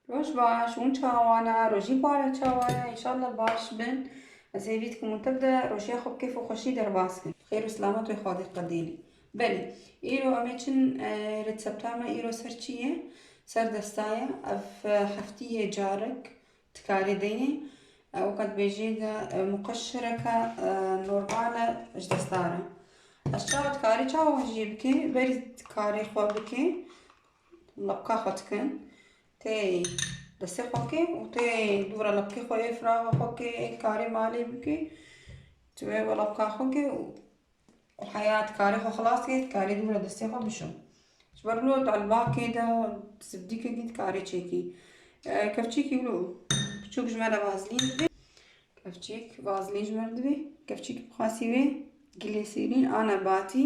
Roj baş, hûn çawana, rojî para çawana, inşallah baş bin. Ez hêvî dikim û tev de rojiya xwe bi kêf û xweşî derbas kin. Xêr û silamet wê xwe diqedînê. Belê, îro em ê çin rêtsepta me îro ser çi ye? Ser desta ye. Ev heftî yê carek Dikarî deyê ew qet bêjî de muqeşireke normal e ji destdar e. Ez çawa dikarî çawa hûn jî bikî berî dikarî xwe bikî lebka xwe dikin tê destê xwe bikî û tê dûra lebkê xwe yê firaxa xwe bikî yê karî malê bikî ji wê lebka xwe bikî û û heya dikarê xwe xilas kê, dikarê dûr li destê xwe bişo. Ji ber wilo di elbakê de sibdîkekî dikarê çêkî. Kevçîkî wilo biçûk ji me re vazilîn dibe. Kevçîk vazilîn ji me re dibe. Kevçîkî bixwasî wê gilê sêrîn a nebatî.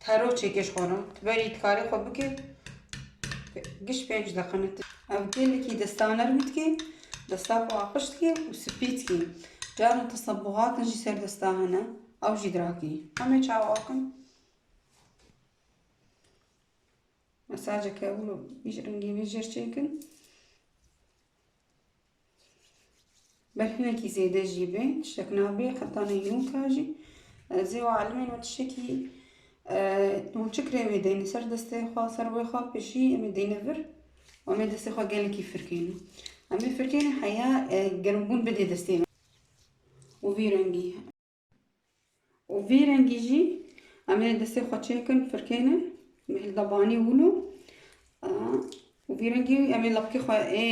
Taro çêkê ji xwe re. Tu berî tu karê xwe bikê giş pênc deqine. Ev gelekî desta nerm dikê, desta xwe aqij dikê û spî dikê. Caran tesebuhatin jî ser desta hene, ew jî dirakî. Hemê çawa akin. Mesajeke wilo bîj rengî bîjir çêkin. Ber hinekî zêde jî bê, tiştek nabê, heta neynoka jî ez ê û alimên û tiştekî û çi kirê wê deyne ser destê xwe, ser wê xwe pêşî em ê deyne vir û em ê destê xwe gelekî firkêne. Em ê firkêne heya gerimbûn bidê destê me û vî rengî. Û vî rengî jî em ê destê xwe çêkin firkêne mihil da banî wilo û vî rengî em ê lapkê xwe ê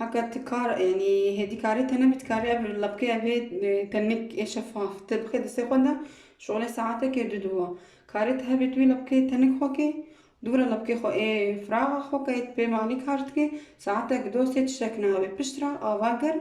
haka ti kar yanî hêdî karê te nebî ti karê ev lapkê ev ê tenik ê şefaf ti bixê destê xwe de şolê saetekê du dûwa karê ti hebê tu wî lapkê tenik xwe kê dûra lapkê xwe ê firaxa xwe kê pê malî kar dikê saetek do sê tiştek nabe pişt re ava germ